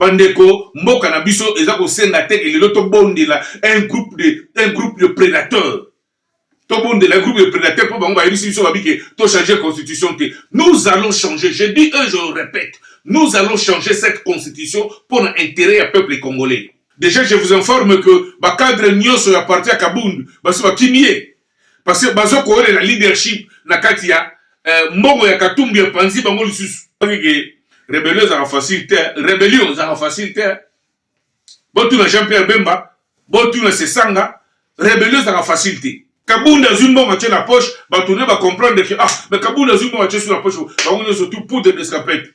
bandeko mboka na biso eza kosenga te ke lelo tobondela un groupe de un groupe de prédateurs tobondela groupe de prédateur mpo bango bayebisi biso babi ke tochange constitution te nous allons changer je dis e je répète nous allons changer cette constitution mpo na intérêt ya peuple congolais déjà je vous informe que bacadre nyonso ya parti ya kabund basi bakimi ye parce que bazo kolela leadership na kati ya eh, mbongo ya katumbi epanzi bango lisusu ke rebellion ezaka facile te rebellion ezaka facile te botuna jean pierre bemba botuna sesanga rebellion ezaka facile te kabunda azwi mbongo atye na poche bato ne bacomprendre ke ah mais kabunda azwi mbongo atye su na poche bango nyonso tu poudre d'escapette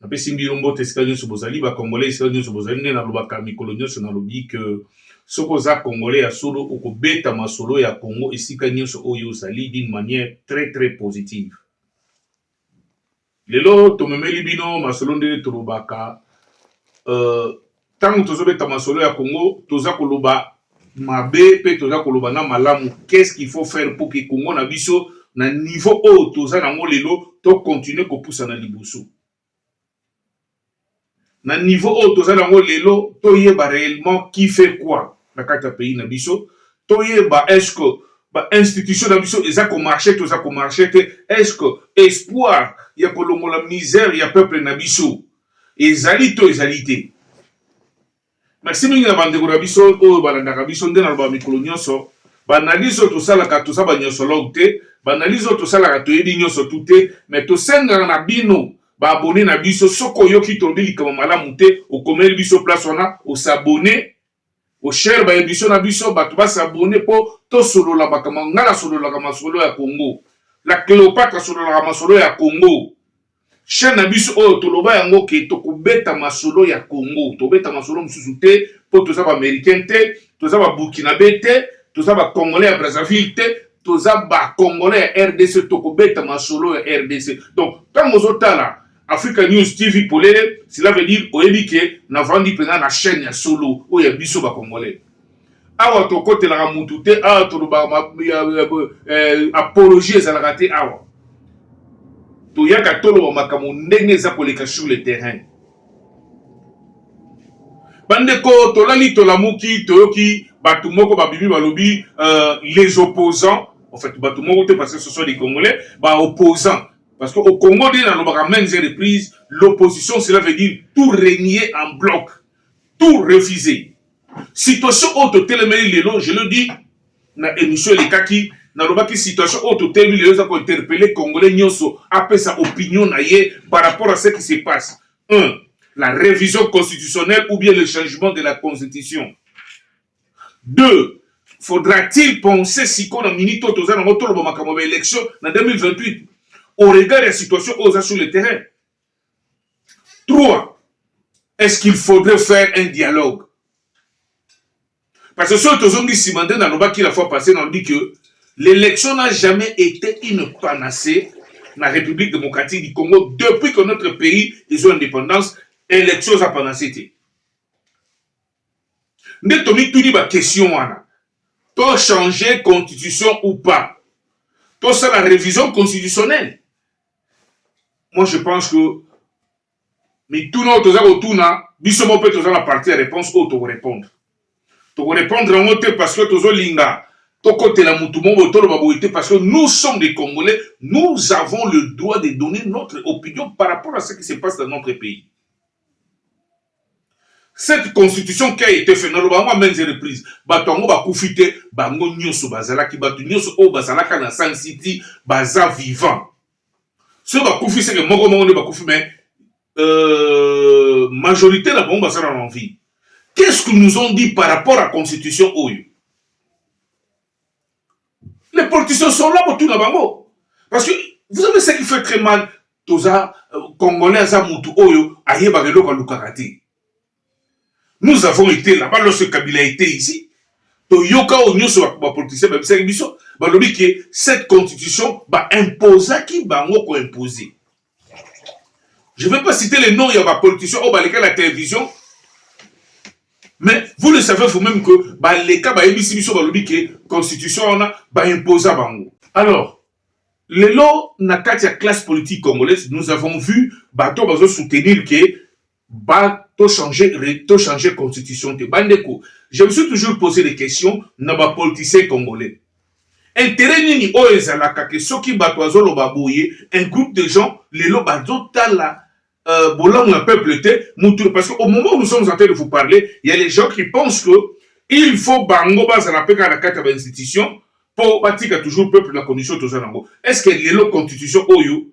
Napesi bino mbote esika nionso bozali ba congolais esika nionso bozali nde nalobaka mikolo nionso nalobi que soki oza congolais ya solo okobeta masolo ya congo esika nionso oyo ozali d'une manière très très positive lelo tomemeli bino masolo ndenge tolobaka euh, Tango tozo beta masolo ya Congo toza koloba mabe pe toza koloba na malamu qu'est ce qu'il faut faire pour que Congo na biso na niveau oyo toza na ngo lelo to continuer ko pusa na liboso na niveau oyo toza na ngo lelo toyeba réellement qui fait quoi na kati ya pays na biso toyeba est ce que ba institution na biso eza ko marcher toza ko marcher te est ce que espoir ya kolongola misère ya peuple na biso ezali to ezali te bakisi mingi na bandeko na biso oyo balandaka biso nde naloba mikolo nyonso baanalise oyo tosalaka toza banyonsologe te baanalise oyo tosalaka toyebi nyonso tu te me tosengaka na bino baabone na biso soki oyoki tolobi likambo malamu te okomeli biso place wana osabone Bo share ba emission na biso batu ba s'abonner po to sololabaka ma nga na sololaka masolo ya Congo. La Cleopatre asololaka masolo ya Congo. Chaine na biso oyo toloba yango ke toko beta masolo ya Congo. To beta masolo mususu te po toza ba Americain te, toza ba Burkinabe te, toza ba Congolais ya Brazzaville te, toza ba Congolais ya rdc toko beta masolo ya rdc. Donc tango ozo tala Africa News TV polele, cela veut dire oyebi ke navandi mpenza na chaîne ya solo oyo ya biso ba congolais. Awa tokotelaka mutu te, awa tolobaka eh, apologie ezalaka te awa. Toyaka toloba makambo ndenge eza koleka sur le terrain. bandeko tolali tolamuki toyoki bato moko babimi balobi euh, les opposants en fait bato moko te parce que ce sont des congolais ba opposants Parce que au Congo nde nalobaka maintes reprises, l'opposition cela veut dire tout renier en bloc, tout refuser. Situation oyo totelemeli lelo, je le dis na emission elekaki, nalobaki situation oyo totelemi lelo eza kointerpele congolais nyonso apesa opinion na ye par rapport à ce qui se passe un la révision constitutionnelle ou bien le changement de la constitution Deux, faudra-t-il penser sikoyo na minute oyo toza nango toloba makambo ya ba election na 2028 au regard ya situation oyo oza sur le terrain? Trois, est-ce qu'il faudrait faire un dialogue parce que soki tozongi nsima nde nalobaki la fois passée nalobi que l'élection n'a jamais été une panacée na république démocratique du congo depuis que notre pays ezwa indépendance élection eza panacée te nde tomituni ba question wana to changer constitution ou pas tosala revision constitutionnelle moi je pense que mituna oyo toza kotuna biso moko mpe toza na parti ya réponse oyo tokorépondre tokorépondre yango te parce que tozolinga tokotela mutu moko toloba boye te parce que nous sommes des congolais nous avons le droit de donner notre opinion par rapport à ce qui se passe dans notre pays Cette constitution qui a été fait na lobango à maintes reprises bato yango bakufi te bango nyonso bazalaki bato nyonso oyo bazalaka na Sun City baza vivant soki bakufi seke moko moko nde bakufi mais euh, majorité na bango bazala na envie qu'est-ce que nous ont dit par rapport à constitution oyo les politiciens sont là pour tout na bango parce que vous savez ce qui fait très mal toza euh, congolais aza mutu oyo ayebaka eloko alukaka te nous avons été là-bas lorsque kabila était ici toyoka oyo nyonso bapoliticien babisaki biso balobi ke cette constitution baimposaki bango koimpose je vais pas citer les noms ya bapoliticien oyo baleka na télévision mais vous le savez vous-même que baleka bayebisi biso balobi ke constitution wana baimposa bango alors Lelo na kati ya classe politique congolaise nous avons vu bato bazo soutenir que ba to changer to changer constitution te ba ndeko je me suis toujours posé des questions na ba politiciens congolais intérêt nini oyo ezalaka ke soki bato bazoloba boye un groupe de gens lelo bazotala euh, bolamu ya peuple te mutu parce que au moment où nous sommes en train de vous parler il y a les gens qui pensent que il faut bango bazala mpe kaka na kati ya bainstitution mpo batika toujours peuple na condition toza nango est ce que lelo constitution oyo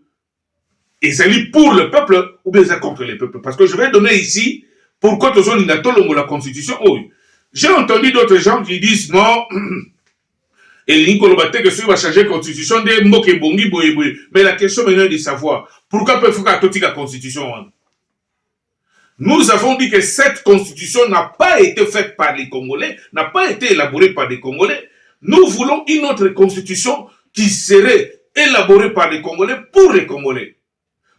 ezali pour le peuple ou bien eza contre le peuple parce que je vais donner ici pourquoi tozolinga tolongola constitution oyo j'ai entendu d'autres gens qui disent non Elingi koloba te que soki ba changer constitution nde mboka ebongi boye boye mais la question maintenant est de savoir pourquoi peuple faut kaka totika constitution wana? Nous avons dit que cette constitution n'a pas été faite par les Congolais, n'a pas été élaborée par les Congolais. Nous voulons une autre constitution qui serait élaborée par les Congolais pour les Congolais.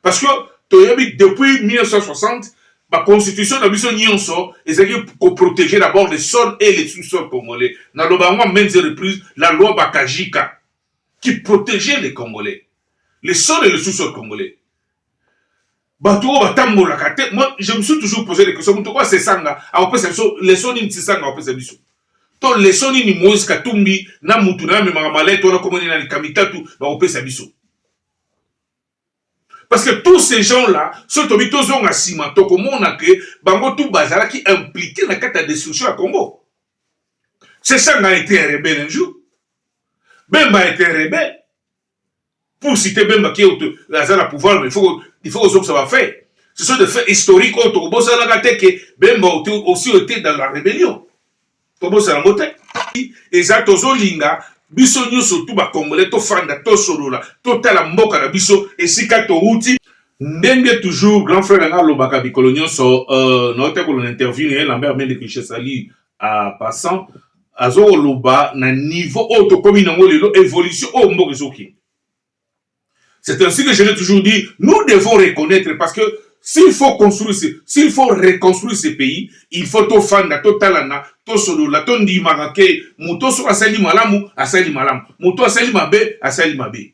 parce que toyebi depuis 1960 ba constitution na biso nyonso ezalaki koprotege d'abord le sol et le sous-sol congolais naloba yango en maintes reprises la loi bakajika qui protégeait les congolais le sol et le sous-sol congolais bato oyo batambolaka te moi je me suis toujours posé des questions moto oyo asesanga akopesa biso leso nini sesanga akopesa biso to leso nini moïse katumbi na motu na amemaka malete wana komoni na likambo mitatu bakopesa biso Parce que tous ces gens-là, soki tobi tozonga nsima tokomona ke bango tu bazalaki impliqué na kati ya destruction ya Congo. Sesanga a été un rebelle un jour. Bemba a été un rebelle. Pour citer Bemba qui est aza na pouvoir, mais il faut il faut kozongisa ba faits. Ce sont des faits historiques oyo tokobosanaka te ke Bemba aussi était dans la rébellion. tobosana yango te eza tozolinga biso nyonso tu bakongole tofanda tosolola totala mboka na biso esika towuti ndenge toujours grand frère nanga alobaka mikolo nyonso uh, naote kolona interview na ye lambert mende que je salue à passant azokoloba na niveau oyo tokomi nango lelo évolution oyo mboka ezokende C'est ainsi que je l'ai toujours dit, nous devons reconnaître parce que s'il faut construire, s'il faut reconstruire ce pays, il faut tout fanda, tout talana, tout solola, tout ndimaka ke, muto so asali malamu, asali malamu, muto asali mabe, asali mabe.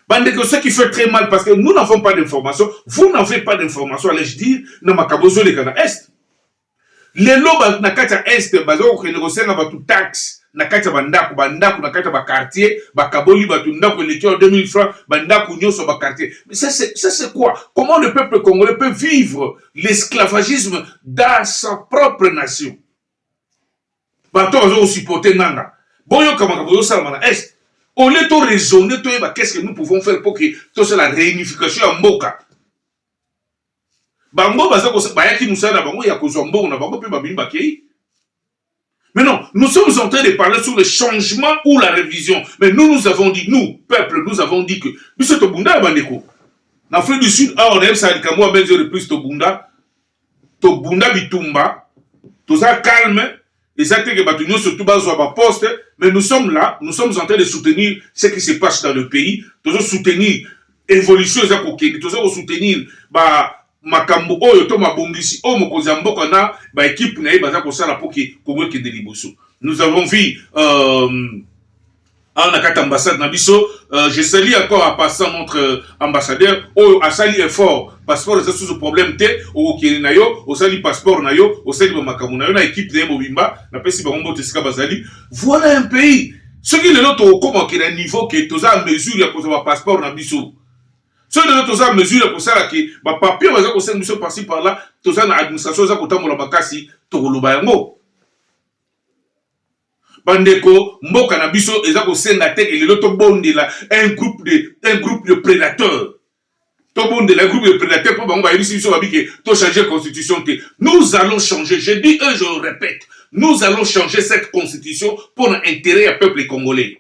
Bande que ce qui fait très mal parce que nous n'avons pas d'informations, vous n'avez pas d'informations, allais-je dire, na makabozo le kana est. Lelo bato na kati ya Est baza kokende kosenga bato taxe na kati ya bandako, bandako na kati ya ba quartier bakaboli bato ndako eleki awa 2000 francs, bandako nionso ya ba quartier mais ça c'est ça c'est quoi? Comment le peuple congolais peut vivre l'esclavagisme dans sa propre nation? Bato baza ko supporter nanga boyoka makambo ezosalama na Est au lieu to raisonner toyeba qu'est-ce que nous pouvons faire pour que tosala reunification ya mboka bango baza bayaki mosala na bango ya kozwa mbongo na bango mpe babimi bakei Mais non, nous sommes en train de parler sur le changement ou la révision. Mais nous, nous avons dit, nous, peuple, nous avons dit que, biso tobunda bandeko. Na Afrique du Sud, awa na yebisa likambo ya benzo de plus tobunda, tobunda bitumba toza calme eza te que bato nyonso tu bazwa ba poste mais nous sommes là nous sommes en train de soutenir ce qui se passe dans le pays tozo soutenir évolution eza kokende toza kosoutenir ba makambo oyo to mabongisi oyo mokonzi ya mboka na baekipe na ye baza kosala mpo ke kongo ekende liboso nous avons vu euh, awa na kati ambassade na biso uh, je sali encore à passant notre euh, ambassadeur oyo asali effort passeport eza susu problème te okokende na yo osali passeport na yo osali bamakambo na yo na équipe na ye mobimba napesi bango mbote esika bazali voilà un pays soki lelo tokokoma ke na niveau ke toza a mesure ya kozwa bapasseport na biso soki lelo toza a mesure ya kosala ke bapapier baza kosenga biso parci par là toza na administration eza kotambola makasi tokoloba yango Ba ndeko mboka na biso eza ko senga te que lelo to bondela un groupe de un groupe de predateurs to bondela un groupe de predateurs po bango ba yebisi biso ba bi que to changer constitution te nous allons changer je dis eux je répète nous allons changer cette constitution pour na interet ya peuple congolais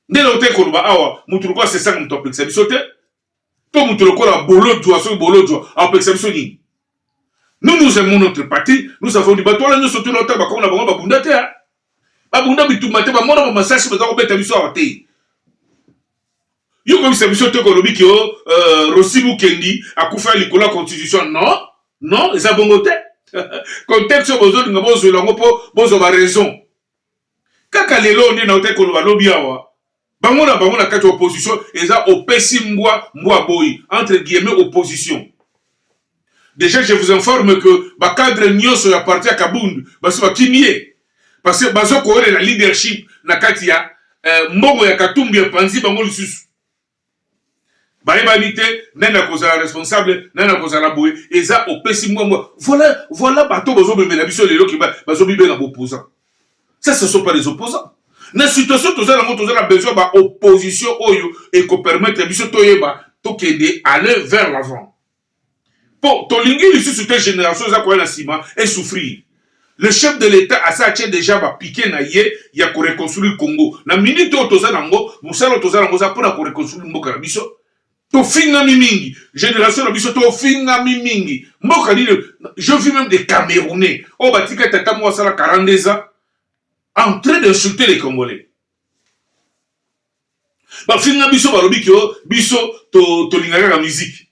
nde lelo te koloba awa mutu lokola sesanga mutu apekisa biso te to moto lokola bolodjwa soki bolodjwa akopekisa biso nini nous nous aimons notre parti nous avons dit bato wana nyonso tuna ota bakongo na bango babunda te babunda bitumba te bamona bamasasi baza kobeta biso awa te yo koyebisa biso te kolobi ke o euh, rosi mukendi akufa likolo ya constitution non non eza bongo te contexte oyo bozolinga bozwela yango mpo bozwa baraison kaka lelo nde nautaki koloba lobi awa Bango na bango na kati ya opposition eza opesi mbwa mbwa aboyi entre guillemets opposition. Deja je vous informe que ba cadre nyoso ya parti ya Kabund basi bakimie parce que bazo kolela leadership na kati ya euh, mbongo ya Katumbi epanzi bango lisusu. bayebani te nani akozala responsable nani akozala boye eza opesi mbwa mbwa voilà voilà bato bozomemela biso lelo ke bazobibenga bopoza ça ce sont pas les opposants na situation toza nango toza na besoin ba opposition oyo ekopermettre biso toyeba tokende aller vers l'avant Po tolingi lisusu te generation eza koya na sima e souffrir. Le chef de l'etat asi atie dejà ba piquets na ye ya ko reconstruire Congo. Na minute oyo toza nango, mosala oyo toza nango eza pona ko reconstruire mboka na biso. Tofingami mingi, generation na biso tofingami mingi. Mboka nini oyo? Je vis meme des camerounais oyo batika tata moko asala 42 ans en train d'insulter les congolais. bafinga biso balobi ke oh, biso tolinga kaka miziki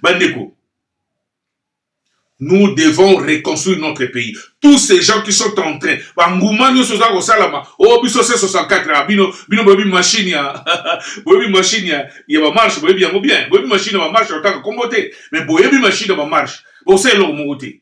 bandeko nous devons reconstruire notre pays tous ces gens qui sont en train banguma nyonso oza kosalama o oh, biso se 64 a bino bino boyebi machine ya boyebi machine ya ya bamarche boyebi yango bien boyebi machine ya bamarche otaka nkombo te mais boyebi machine ya bamarche bosala eloko moko te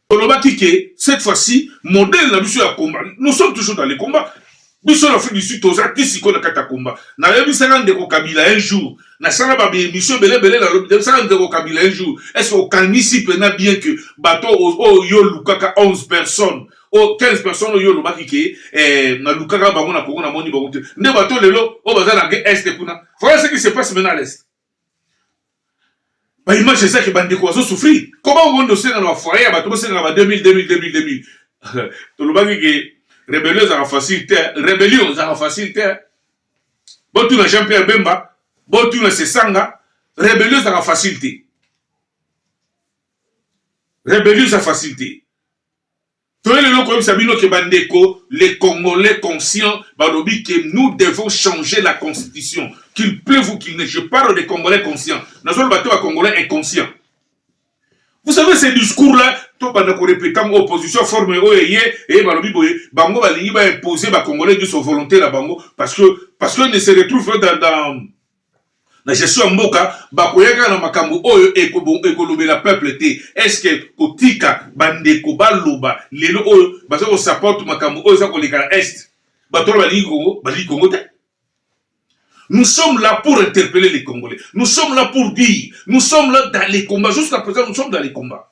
Tolobaki que cette fois ci modèle na biso ya combat, nous sommes toujours dans les combats. Biso na Afrique du Sud toza ti sikoyo na kati ya combat. Nayebisaka ndeko Kabila un jour, nasala ba émission bele bele na lobi nayebisaka ndeko Kabila un jour, est-ce que okanisi pena bien que bato oyo yo lukaka 11 personnes oyo 15 personnes oyo olobaki ke eh, nalukaka bango na Congo namoni bango te nde bato lelo oyo baza na est kuna. Voilà ce qui se passe maintenant à l'est. ba image eza ke bandeko bazo souffrir comment okoki tosenga na bafoyer ya bato bosenga na ba 2000 2000 2000 2000 tolobaki ke rebellion ezaka facile te rebellion ezaka facile te botuna jean pierre bemba botuna sesanga rebellion ezaka facile te rebellion eza facile te Toye lelo koyebisa bino ke ba ndeko les congolais conscients balobi ke nous devons changer la constitution qu'il pleuve ou qu'il neige je parle des congolais conscients nazoloba te ba congolais inconscients vous savez ces discours là tobanda ko repeter yango opposition forme oyo eye eye balobi boye bango balingi ba imposer ba congolais nyonso volonte na bango parce que parce que ne se retrouve dans, dans na gestion ya mboka bakoyaka na makambo oyo ekolobela peuple te eske kotika bandeko baloba lelo oyo baza kosaporte makambo oyo eza koleka na est bato wana balingi kongo balingi kongo te Nous sommes là pour interpeller les Congolais. Nous sommes là pour dire. Nous sommes là dans les combats. Jusqu'à présent, nous sommes dans les combats.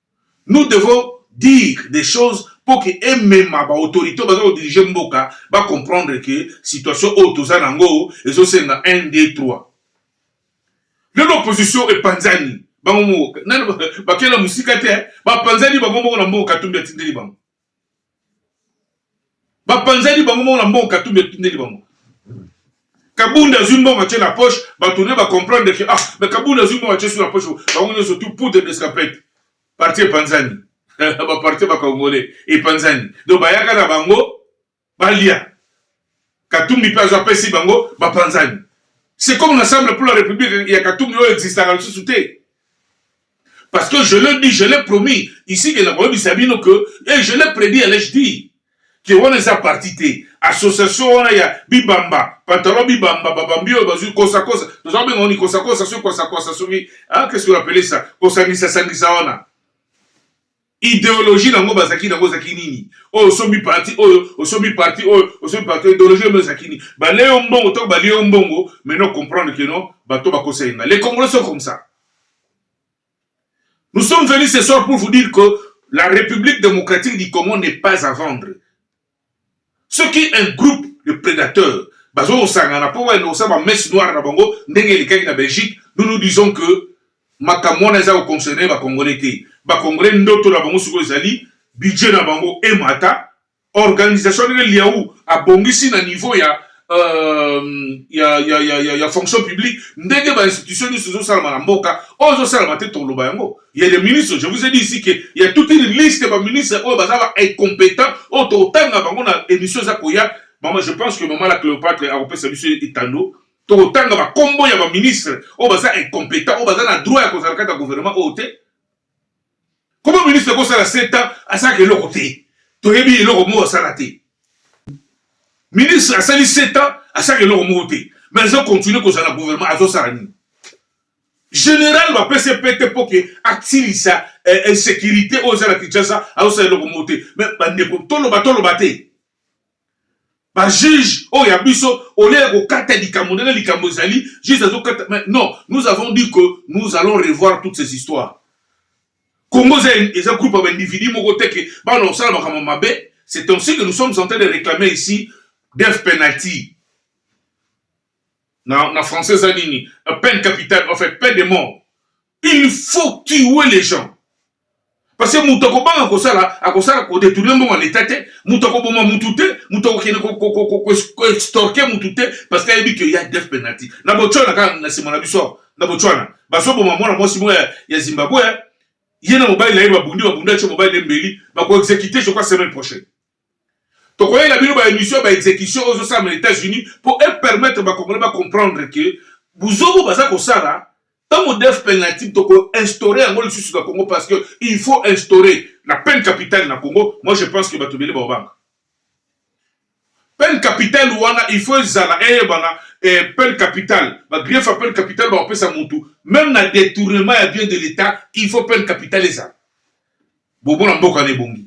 Nous devons dire des choses mpo que emema ba autorites oyo baza ko diriger mboka ba comprendre que situation oyo toza na yango ezo senga un, deux, trois. Lelo opposition epanzani bango moko, nanu bakenda mosika te, bapanzani bango moko na mbongo Katumbi atindeli bango. bapanzani bango moko na mbongo katumbi atindeli bango kabunda azwi mbongo atye na poche bato ne bacomprendre ke ah me kabunda azwi mbongo atye su na poche bango nyonso tu poudre d'escapete parti epanzani baparti bakongole epanzani donc bayaka na bango balia katumbi pe azo apesi bango ba panzani c'est comme l'ensemble pour la republique ya katumbi oyo existaka lisusu te parce que je le dis je l'ai promis ici que nakoyebisa bino que et eh, je l'ai prédit à l'âge dit ke wana eza parti te association wana ya bibamba pantalon bibamba babambi oyo bazwi kosakosa toza kobenga oni kosakosa soki kosakosa soki ah, qu'est ce que appele ça kosangisa sangisa wana Ideologie nango bazaki nango ezaki nini? Oyo osombi parti oyo, osombi parti oyo, osombi parti oyo, ideologie yango ezaki nini? Balie yo mbongo to balie yo mbongo, maintenant comprendre que non, bato bakosa yenga. Les Congolais sont comme ça. Nous sommes venus ce soir pour vous dire que la République démocratique du Congo n'est pas à vendre. soki un groupe de predateurs bazo kosangana mpo bayende kosala ba messe noire na bango ndenge elekaki na Belgique, nous nous disons que makambo wana eza ko concerner ba congolais te. Ba congolais ndoto na bango sikoyo ezali budget na bango emata, organisation ndenge Liawu abongisi na niveau ya Euh, ya, ya, ya, ya, ya fonction publique ndenge bainstitution nyonso ezosalama na mboka oyo ezosalama te toloba yango ya le ministre je vous ai dit ici ke ya toute une liste baministre oyo baza ba incompétent oyo tokotanga bango na émission eza koya mama je pense que mama la cléopatre akopesa biso etando tokotanga bakombo ya baministre oyo baza incompétent oyo baza na droit ya kozala kati ya gouvernement oyo te Comment ministre ko sala 7 ans asaka eloko te. Toyebi eloko mo asala te. Ministre asali 7 ans asaka eloko mo te. Mais azo continuer ko sala gouvernement azo sala nini? Général ba PCP te poke aksilisa eh, insécurité oyo eza na Kinshasa azo sala eloko mo te. Mais ba ndeko tolo ba tolo ba te. ba juge oyo ya biso olie ya kokata likambo ndenge likambo ezali juge azokata mais non nous avons dit que nous allons revoir toutes ces histoires congo eza eza groupe ya baindividu moko te ke bana kosala makambo mabe c'est ainsi que nous sommes en train de réclamer ici death penalty na, na français eza nini peine capitale en fait peine de mort il faut tuer les gens parce que moto akobanga kosala akosala kodetourne mbongo ya leta te moto akoboma motu te moto akokende koextorke motu te parce que ayebi ke ya def penalty na botswana kaka na nsima na biso na botswana bazoboma mwana mwasi moko ya, ya zimbabwe ye na mobali na ye babundi babundi atie mobali na ye mbeli bakoexekite je crois semaine prochaine tokoyela bino ba émission ya ba exécution oyo ezosala na États-Unis mpo e permettre ba congolais ba comprendre que buzobo baza kosala ntango def penalty toko instaurer yango lisusu na Congo parce que il faut instaurer la peine capitale na Congo moi je pense que bato ebele baobanga peine capitale wana il faut ezala eyebana eh, peine capitale bagrief ya peine capitale bakopesa mutu même na détournement ya bien de l'état il faut peine capitale ezala bobona mboka na ebongi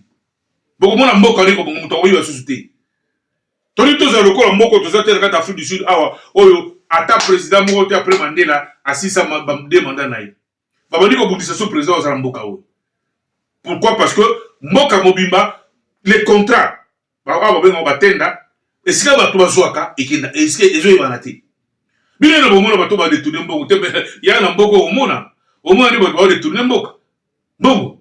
bokomona mboka wana ekobonga moto akoyeba susu te toli tozala lokola moko toza te na kati ya afrique du sud awa oyo ata président moko te après mandela asisa de mandat na ye babandi kobundisa so président aza na mboka oyo pourquoi parce que mboka mobimba le contrat awa babengaka batenda esika bato bazwaka ekenda esika ezoyebana te bino na bomona bato badetourne mbongo te ya na mboka omona omona nde bato baodetourne mboka mbongo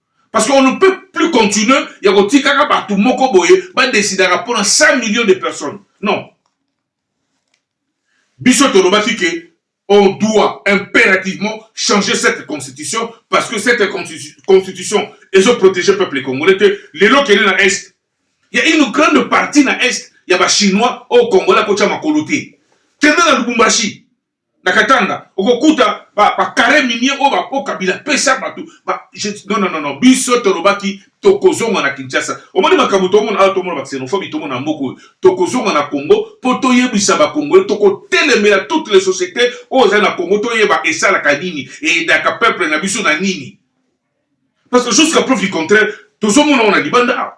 Parce qu'on ne peut plus continuer ya kotikaka bato moko boye badesidaka mpo na 100 millions de personnes. Non. Biso tolobaki ke on doit impérativement changer cette constitution parce que cette constitution ezo protéger peuple congolais te lelo kende na est il y a une grande partie na est ya ba chinois au congolais akotia makolo te kende na lubumbashi na katanga okokuta ba, ba carre minier oyo bapo kabila pesa bato ba, je, non, non, non, non, biso tolobaki tokozonga na kinshasa omoni makambo tomona awa tomona ba xenophobie tomona na mboka oyo tokozonga na congo mpo toyebisa bakongole tokotelemela toute les société oyo ezali na congo toyeba esalaka nini eyedaka peuple na biso na nini parce que jusqu'à preuve du contraire tozomona oyo na libanda awa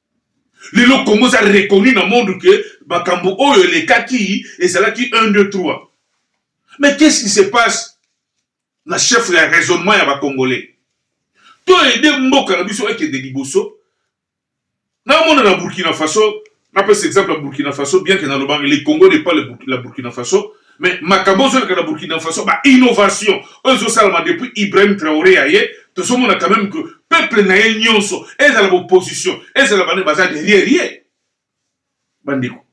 Lelo Congo eza reconnu na monde que makambo oyo elekaki ezalaki 1 2 3. Mais qu'est-ce qui se passe na chef ya raisonnement ya ba congolais? To aider mboka na biso ekende liboso. Na mona na Burkina Faso, na pesa exemple ya Burkina Faso bien que na lobanga le Congo n'est pas le Burkina, la Burkina Faso, Mais makambo ozoleka na Burkina Faso ba innovation oyo ezosalama depuis Ibrahim Traoré aye tozomona quand même que peuple na ye nyonso ezala opposition ezala bane baza derrière ye bandeko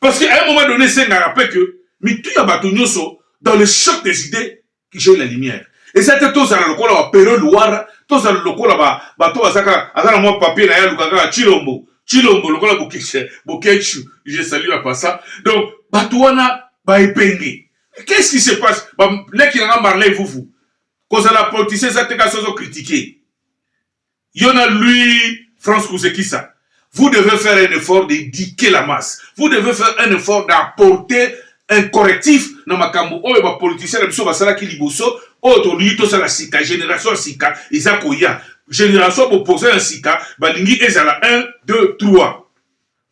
parce que à un moment donné esengaka pe que mitu ya bato nyonso dans le choc des idées Kijoli la lumière eza te tozala lokola ba pero luwara tozala lokola ba bato bazaka aza na mwa papier na ye aluka kaka chilombo chilombo lokola bokeshe bokeshu je salue à passa donc bato wana ba epenge qu'est-ce qui se passe ba leki na nga marley vuvu kozala politicien eza te kasi ozo critiquer Yo na Louis France Kuzekisa, vous devez faire un effort d'éduquer la masse. Vous devez faire un effort d'apporter un correctif na makambo oyo ba politiciens na biso basalaki liboso oyo tolingi tosala sika génération ya sika eza koya génération bopoza ya sika balingi ezala 1 2 3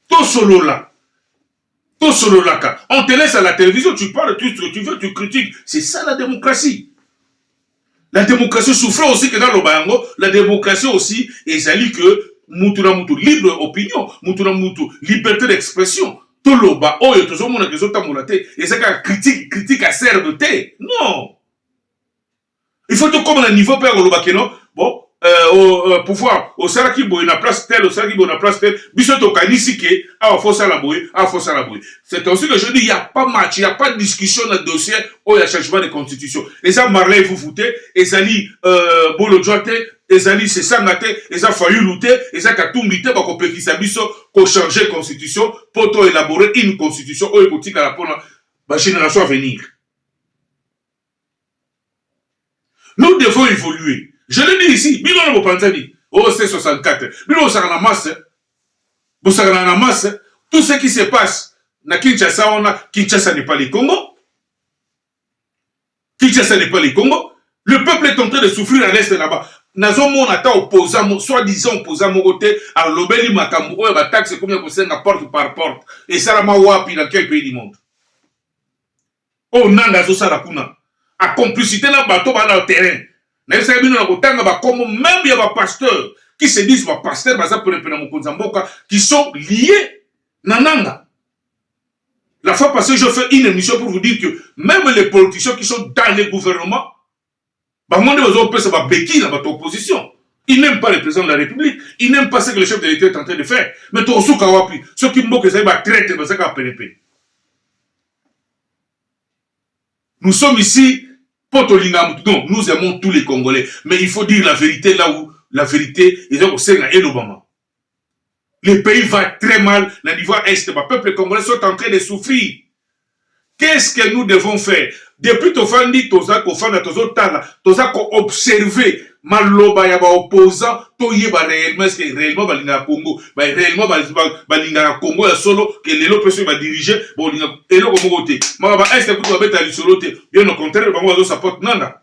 tosolola tosololaka on te laisse à la télévision tu parles tout ce que tu veux tu critiques c'est ça la démocratie la démocratie souffre aussi que naloba yango la démocratie aussi ezali que mutu na mutu libre opinion mutu na mutu liberté d'expression toloba oyo tozomonaka ezotambola te eza kaka critique critique acerbe te non il faut tokoma na niveau mpe ya koloba keno bo euh, au, euh, pouvoir osalaki boye na place tel osalaki boye na place tel biso tokanisi ke awa fo osala boye awa fo osala boye c'est ainsi que je dis ya pas match ya pas discussion na dossier oyo ya changement de constitution eza marley fufu te ezali euh, bolodjwa te ezali sesanga te eza fayulu te eza katumbi te bakopekisa biso kochange constitution mpo to elabore une constitution oyo ekotikala mpona bagénération à venir Nous devons evoluer. Je l'ai dit ici, bino na bopanzani. Oh, c'est 64. Bino bosaka na masse. Bosaka na masse. Tout ce qui se passe na Kinshasa on a Kinshasa n'est pas le Congo. Kinshasa n'est pas le Congo. Le peuple est en train de souffrir à l'est là-bas. nazomona ata oposa soi-disant oposa moko te alobeli makambo oyo bataxe ekomi ya kosenga porte par porte esalama wapi na quel pays du monde Oyo nanga azo sala kuna a complicite na bato ba na terrain na yebisaki bino na kotanga ba kombo meme ya ba pasteurs qui se disent ba pasteurs baza pene pene ya mokonzi ya mboka qui sont liés na nanga La fois passée, je fais une émission pour vous dire que même les politiciens qui sont dans les gouvernements, Bango nde bazo pesa ba beki na bato opposition. Il n'aime pas le président de la République, il n'aime pas ce que le chef de l'État est en train de faire. Mais tokosuka wapi soki mboka ezali ba traite bazaka kaka penepene. Nous sommes ici pour tolinga moto. Non, nous aimons tous les Congolais, mais il faut dire la vérité là où la vérité eza kosenga elobama. Le pays va très mal na niveau ya est ba peuple congolais sont en train de souffrir qu'est-ce que nous devons faire depuis tovandi toza kofanda tozotala toza koobserve maloba ya baopposant toyeba réellement est ce que réellement balingaka congo ba réellement balingaka congo ya solo ke lelo mpe soki badirige bolinga eloko moko te maka ba est kutu babeta lisolo te bien au contraire bango bazosapote nanga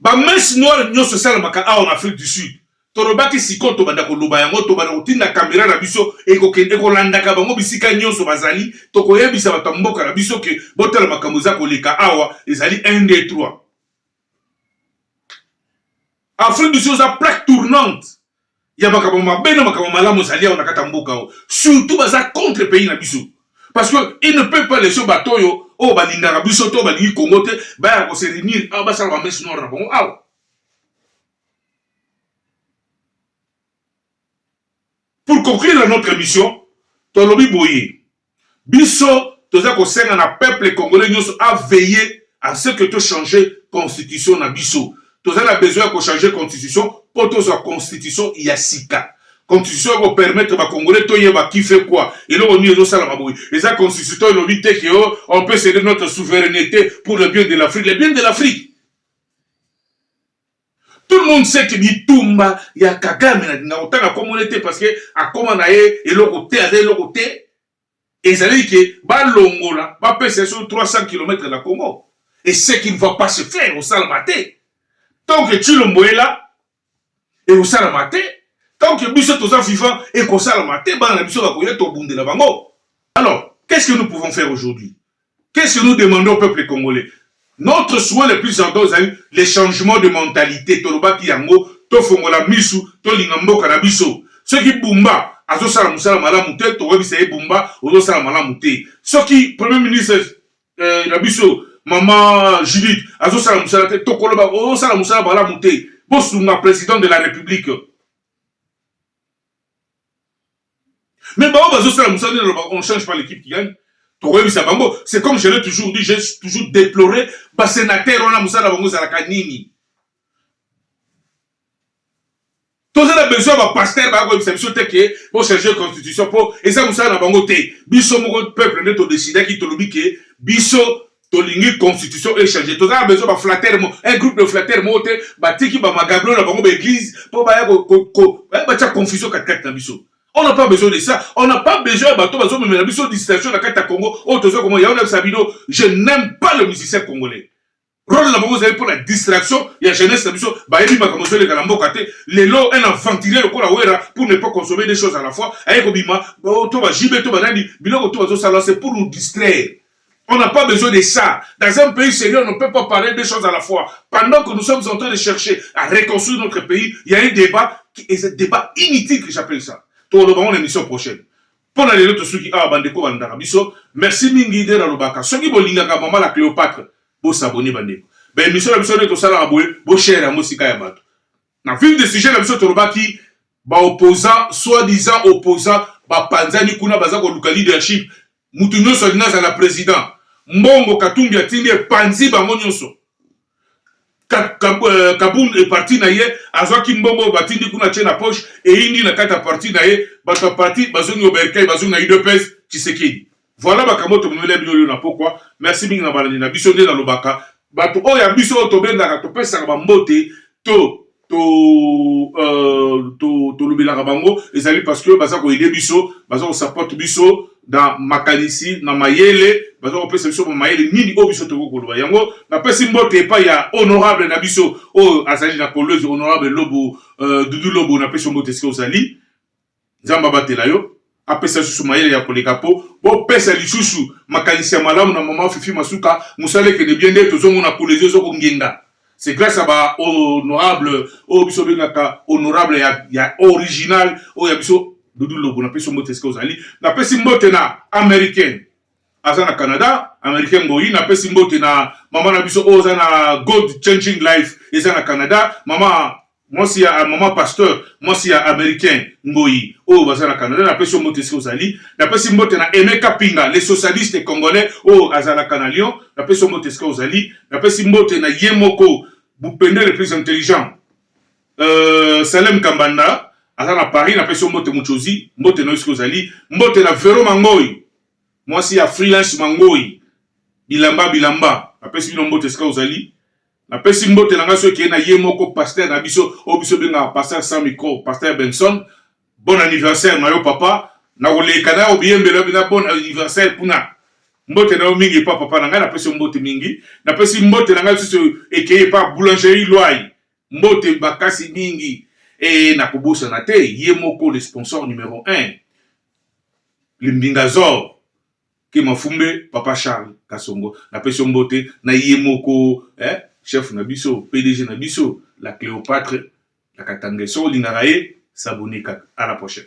Ba messes noires nionso esalamaka awa na Afrique du Sud. Tolobaki sikoyo tobanda koloba yango, tobanda kotinda camera na biso ekokende ekolandaka bango bisika nionso bazali, tokoyebisa bato ya mboka na biso que botala makambo eza koleka awa, ezali un, deux, trois. Afrique du Sud eza plaque tournante. ya makambo mabe na makambo malamu ezali awa na kati ya mboka oyo surtout baza contre pays na biso parce que il ne peut pas laisser bato oyo oyo balingaka biso to balingi congo te baya kose réunir awa basala bamese noire na bango awa pour conclure notre émission tolobi boye Biso toza kosenga na peuple congolais nyoso a veiller a ce que to changer constitution na biso. Toza na besoin ya ko changer constitution po tozwa constitution ya sika. Constitution eko permettre ba congolais toyeba qui fait quoi. Eloko nini ezo salama boye? Eza constitution elobi te que on peut ceder notre souverainete pour le bien de l'Afrique. Le bien de l'Afrique? Tout le monde sait que bitumba ya Kagame na dinga kotanga kombo ne te parce que akoma na ye eloko te aza eloko te ezali ke balongola bapesa ye soki 300 km na Congo et ce qui ne va pas se faire osalama te tant que Tshilombo est là ekosalama te tant que biso toza vivant ekosalama te bana na biso bakoya tobundela bango alors qu'est-ce que nous pouvons faire aujourd'hui Qu'est ce que nous demandons au peuple congolais? Notre souhait le plus ardent ezali le changement de mentalite, tolobaki yango, tofongola misu, tolinga mboka na biso. Soki Bumba azosala musala malamu te, tokoyebisa ye Bumba ozosala malamu te. Soki Premier ministre eh, na biso mama Judith azosala musala te, tokoloba ozosala musala malamu te. Bosunga President de la Republique. Mais bango bazo sala musala nini loba on change pas l'équipe qui gagne tokoyebisa bango c'est comme je l'ai toujours dit j'ai toujours déploré ba sénateur wana musala bango ezalaka nini toza na besoin ba pasteur ba koyebisa biso te ke bo changer constitution po eza musala na bango te biso moko peuple nde to décidaki tolobi ke biso tolingi constitution echange toza na besoin baflatere mo un groupe de flatere moko te batiki bamagablo na bango baeglise mpo baya eh, batya confusion katikati na biso on n'a pas besoin de ça on n'a pas besoin ya bato bazomemela biso distraction na kati ya congo oyo oh, toza komona yango nayebisa bino je n'aime pas le musicien congolais role na bango ezali mpo na distraction ya jeunesse na biso bayebi makambo ezoleka na mboka te lelo un aventurier lokola wera pour ne pas consommer des choses à la fois aye kobima oh, to bajb to banani biloko to bazosala c'est pour nous distraire On n'a pas besoin de ça. Dans un pays sérieux, on ne peut pas parler deux choses à la fois. Pendant que nous sommes en train de chercher à reconstruire notre pays, il y a un débat, qui est un débat inutile que j'appelle ça. Tout le monde, émission prochaine. mpo na lelo tosuki awa bandeko balingaka biso merci mingi nde nalobaka soki bolingaka mama la cléopatre bosabone bandeko baémission na biso nde tosalaka boye boshare yango esika ya bato na ville de sujet na biso tolobaki baopposant soit disant opposant bapanzani kuna baza koluka leadership Mutu nionso alingi azala president. Mbongo katumbi atindi epanzi bango nionso. Kabund et parti na ye azuaki mbongo oyo batindi kuna atie na poche eyindi na kati ya parti na ye. Batu ya parti bazongi au bercail bazongi na udps tshisekedi. Voila makambo oyo tomemeli bino lelo na pokua. Merci mingi na balandi na biso. Nde nalobaka batu oyo ya biso oyo tobengaka topesaka ba mbote to to euh, to tolobelaka bango ezali parce que baza koaide biso baza kosupport biso na makanisi na mayele baza kopesa biso ba mayele nini oyo biso tokoki koloba yango napesi mbote epai ya honorable na biso oyo azali na kolwezi honorable lobo euh, dudu lobo napesi yo mbote esika ozali Nzambe abatela yo, apesa lisusu mayele ya koleka po bopesa lisusu makanisi ya malamu na maman Fifi Masuka, musala ekende bien nde tozomona Kolezi ozo kongenga c'est grace ya ba honorable oyo biso bengaka honorable ya, ya original oyo ya biso Doudou Lobo na pesi mbote esika ozali, na pesi mbote na Americain aza na Canada, Americain Ngoyi na pesi mbote na mama na biso oyo aza na Gold Changing Life eza na Canada, mama Mwasi ya maman pasteur, mwasi ya americain ngoyi oyo baza na Canada na pesi yo mbote esika ozali. Na pesi mbote na Aime Kapinga le socialiste congolais oyo azalaka na Lyon na pesi yo mbote esika ozali. Na pesi mbote na ye moko Bupende le plus intelligent euh, Salem Kambanda aza na Paris na pesi yo mbote Muchozi mbote na yo esika ozali. Mbote na Vero Mangoyi mwasi ya freelance Mangoyi bilamba bilamba na pesi bino mbote esika ozali. Napesi mbote na ngai soki na ye moko pasteur na biso oyo biso bengaka pasteur sans micro pasteur Benson bon anniversaire na yo papa na koleka na yo biyembelo bina bon anniversaire kuna mbote na yo mingi epa papa na ngai napesi mbote mingi napesi mbote na ngai lisusu ekei epa boulangerie lwai mbote bakasi mingi e nakobosana te ye moko le sponsor numero 1 limbinga zor Ken Mafumbe, Papa Charles Kasongo na pesi yo mbote na ye moko eh, chef na biso, pdg na biso, la Cleopatre la Katangais. Soki olingaka ye, s'abonner kaka. A la prochaine.